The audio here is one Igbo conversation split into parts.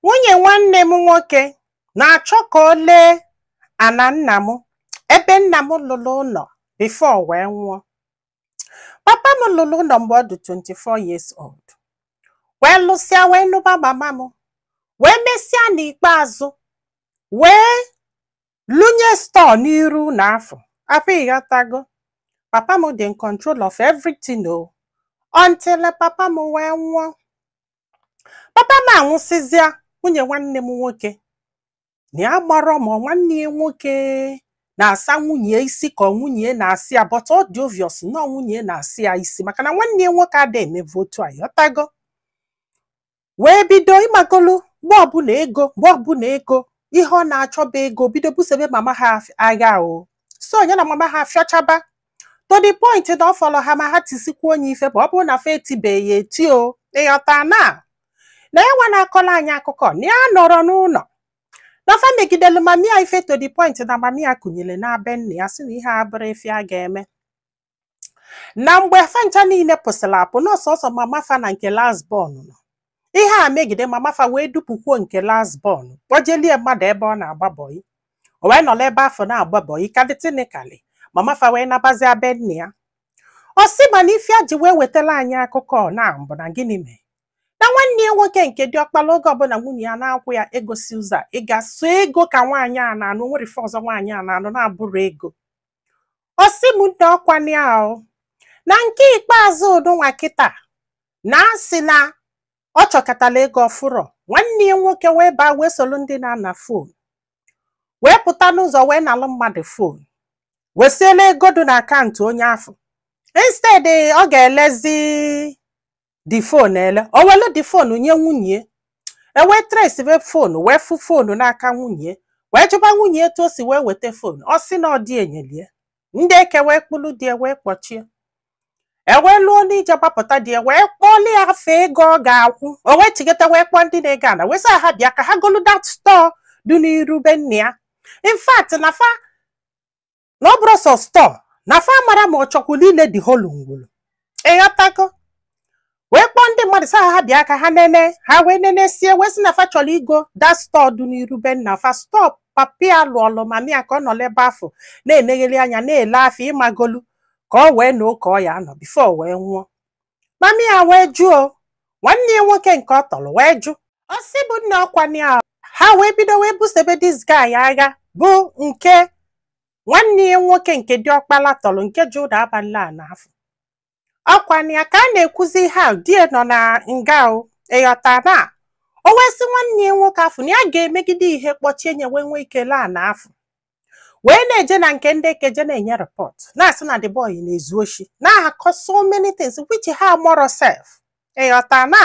nwunye nwanne m nwoke na-achọ ka o lee ana nna m ebe nna m lụlụ ụnọ before wee nwụọ papa m lụlụ ụnọ mgbe ọ dị 24 years old wee lụsịa wee nụba mama m wee mesịa n'ikpeazụ wee lụnye store n'iru ụnọ afụ afụ ị ghọtago papa m dị in control of everything o until papa m wee nwụọ papa m anwụsịzịa nwunye nwanne m nwoke na ya amarọ ma nwanne ya nwoke na-asa nwunye ya isi ka nwunye ya na-asa ya but ọ dị obvious na ọ nwunye ya na-asa ya isi maka na nwanne ya nwoke ada emevu otu a ị ghọtago wee bido ị magolu mgbe ọbụla ego mgbe ọbụla ego ihe ọ na-achọba ego bido busebe mama ha af- agha o so ya na mama ha fịọchaba to the point na ọ fọrọ ha ma ha tisikwuo nne ya ife bụ ọ bụrụ na fa etibeghị ya eti o ị ghọta na na ya nwa na-akọlụ anyị akụkọ na ya anọrọ n'ụnọ na fa megidelu mami ya ife to the point na mami ya kuniri naa be nna ya sị na ihe a abụrọ ife a ga-eme na mgbe fa ncha niile pụsịrị apụ na ọ sọọsọ mama fa na nke last born nọ ihe a megide mama fa wee dupụkwuo nke last born kpọjelụ ya mmadụ ebe ọ na-agba bọyị o wee nọrọ ebe afụ na-agba bọyị ka dị technically mama fa wee nabazịa be nna ya ọ sị mana ife a ji wee wetara anyị akụkọ ọ nwa bụ na gịnị mee na nwanne ya nwoke nke dị ọkpala oge ọbụla nwunye ya na-akwụ ya ego si ụzọ a, ị ga sọ ego ka nwaanyị a na-anụ o nwerọ ife ọzọ nwaanyị a na-anụ na-abụrọ ego ọ sị m nna ọkwanụ ahụ na nke ikpeazụ ụdụ nwa kịta na-asị na ọ chọkatala ego ọ fụrọ nwanne ya nwoke wee baa wee solu ndị na-ana fon wee pụta n'ụzọ wee nalụ mmadụ fon wee siela ego dị na akaụntụ onye afụ instead ọ ga-elezi the fon ele o welu the fon nye nwunye ya e wee traceive fon wee fụ fon n'aka nwunye wee jụba nwunye etu o si wee weta fon ọ sị na ọ di ya nyelu ya ndị eke wee kpụrụ di ya wee kpọchie e wee luo n'ije gbapụta di ya wee kpọọlụ ya ife ego ọ ga-akwụ o wee chigata wee kpọọ ndị na-ego ana wee sị ha bịa ka ha golu that store dị n'iru be nna ya in fact na fa na ọ bụrọ sọ store na fa amarọ ma ọ chọkwulu ile the whole ngwulu ị ghọtago wee kpọọ ndị mmadụ sị ha ha bịa ka ha nene ha wee nenesịa wee sị na fa chọrọ igo that store dị n'iru be nna fa store papi ya lụọlụ mami ya ka ọ nọ n'ebe afụ na-enegheli anya na-ele afịa ị magolu ka o wee nọọ ka ọ ya-anọ before o wee nwụọ mami ya wee jụ nwanne ya nwoke nke ọ tọrọ wee jụ ọ sị bụ nna ọkwanụ ya ha wee bido wee busebe this guy agha bụ nke nwanne ya nwoke nke dị ọkpala tọrọ nke ji ụda abalị a n'afọ ọkwa na ya ka a na-ekwuzi ihe a di ya nọ na nga o ịghọta na o wee sị nwanne ya nwoke afụ na ya ga-emegide ihe kpọchie nye wee nwee ike laa na afọ wee na-eje na nke ndị eke je na-enye report na-asị na the boy na-ezu oshi na-akọ so many things which ha amarọ sef ịghọta na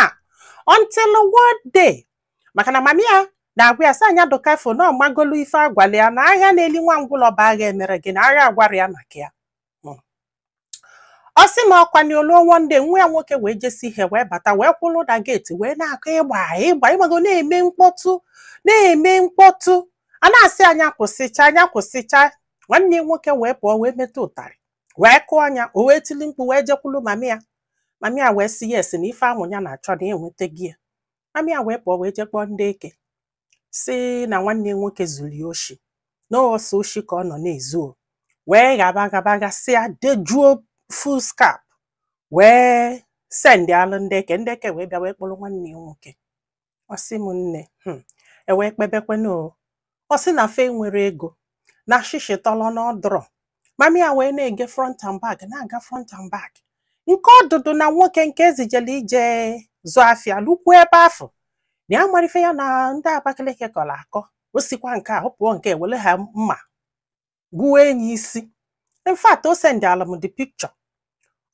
until one day maka na mami ya na-agwa ya sị anya dụka fo na ọmagolu ife agwala ya na agha na-eli nwa ngwụlọ bụ agha emere gịnị agha agwarọ ya maka ya ọ sị m ọkwa na o luo one day nwa ya nwoke wee jesi ihe wee bata wee kwụrụ na gate wee na-akụ ịgba ịgba ịgbago na-eme mkpọtụ na-eme mkpọtụ a na-asị ya nya kwụsịcha nya kwụsịcha nwanne ya nwoke wee pụọ wee weta ụtarị wee kụọ nya o wee tili mkpu wee jekwulu mami ya mami ya wee sị yes na ife ahụ ya na-achọ na enwetago ya mami ya wee pụọ wee je kpọọ ndị eke sị na nwanne ya nwoke zuru ya oshi na ọ sọ oshi ka ọ nọ na-ezu o wee ghaba ghaba ghasịa dejuo foolscap wee sendịalụ ndị eke ndị eke wee bịa wee kpọrọ nwanne ya nwoke ọ sị m nne hmm, e wee kpebekwanụ o ọ sị na fa enwerọ ego na shịshị tọrọ na ọ dụrọ mami ya wee na-eje front and back na-aga front and back nke ọdụdụ na nwoke nke ezijela ije zụ afịa lukwu ebe afụ na ya amarọ ife ya na ndị Abakaliki kọrọ akọ o sikwa nke a ọ pụọ nke were ha mma gbuwaa nya isi in fact o sendịalụ m the picture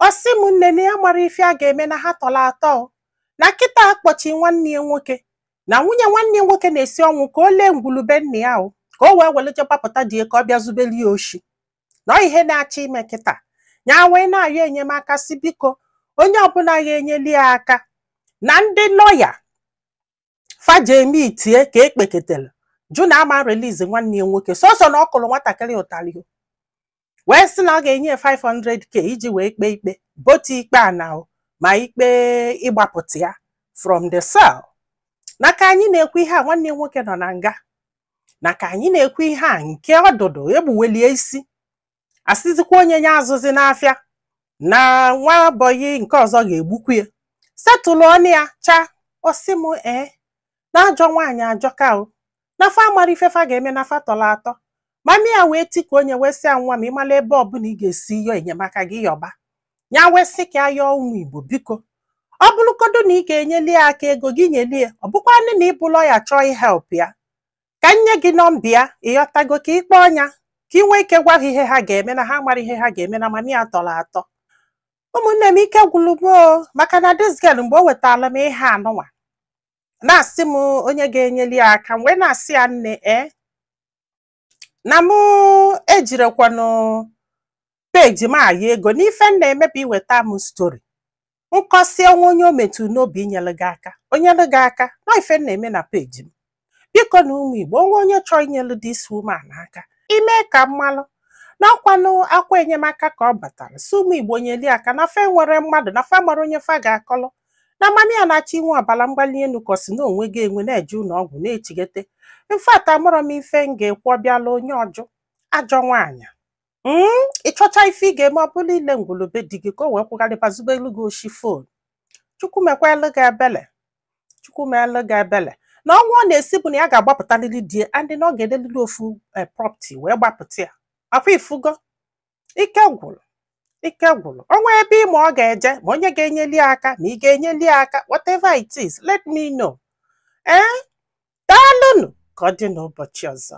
ọ sị m nne na ya amarọ ife a ga-eme na ha tọrọ atọ na kịta akpọchi nwanne ya nwoke na nwunye nwanne ya nwoke na-esi ọnwụ ka o lee ngwulu be nna ya o ka o wee were je gbapụta di ya ka ọ bịa zubere ya oshi na ọ ihe na-achọ ime kịta ya wee na-ayọ enyemaka sị biko onye ọbụla ga-enyeli ya aka na ndị lawyer fa je meetie ka ekpeketele jụ na ama release nwanne ya nwoke sọsọ na ọ kụrụ nwatakịrị ụtarị o. wee sị na ọ ga-enye ya 500k iji wee kpee ikpe both ikpe a na o, ma ikpe ịgbapụta ya from the cell na ka anyị na-ekwu ihe a nwanne ya nwoke nọ na nga na ka anyị na-ekwu ihe a nke ọdụdụ egbuwalụ ya isi asịzikwa nya nya azụzina afịa na nwa bọyị nke ọzọ ga-egbukwu ya setụlụ ọnụ ya chaa ọsị m ee na ajọ nwaanyị ajọka o na fa amarọ ife fa ga-eme na fa tọrọ atọ mami ya wee tikuo nya wee sị ya nwa m ị mala ebe ọbụla ị ga-esi yọọ enyemaka gị yọba ya wee sị ka ya yọọ ụmụ igbo biko ọ bụrụgodu na ị ga-enyeli ya aka ego gị nyeli ya ọ bụkwanụ na ị bụ lawyer chọọ ihelp ya ka m nye gị nọmba ya ịghọtago ka ị kpọọ ya ka ị nwee ike gwa ha ihe ha ga-eme na ha amarọ ihe ha ga-eme na mami ya tọrọ atọ ụmụnne m ike gwụrụ m o maka na this girl mgbe o wetara m ihe anụnwa na-asị m onye ga-enyeli ya aka m wee na-asị ya nne e na mụ ejirọkwanụ peji m ayọ ego n'ife m na-eme bụ iweta m stori m kọsịa o nwee onye o metụrụ n'obi inyere gị aka o nyere gị aka na ife m na-eme na peji m bikonụ ụmụ igbo o nwee onye chọọ inyere this woman aka i mee ka m malụ na ọkwanụ akwa enyemaka ka ọ batara sị ụmụ igbo nyeli ya aka na fa enwerọ mmadụ na fa amarọ onye fa ga-akọlọ na mama ya na-achọ inwe ọbara mgbali elu ka ọ sị na o nwego ya enwe na-eje ụlọ ọgwụ na-echigete in fact amarọ m ife m ga-ekwu ọbịala onye ọjọọ ajọ nwaanyị Mm, ị chọcha ife ị ga-eme ọ bụla ile ngwulu be di gị ka o wee kwụgharịba zubelu gị oshi fon chukwu mekwalu gị ebele chukwu meelu gị ebele na ọnwa ọ na-asị bụ na ya ga-agbapụtalili di ya and na ọ ga-elelili ofu eh, property wee gbapụta ya ọkwa ị fugo ike gwụrụ ike gwụrụ o nwee ebe ị ma ọ ga-eje ma onye ga-enyeli ya aka ma ị ga-enyeli ya aka whatever it is let me know ee daalụnụ ka ọ dị n'ụbọchị ọzọ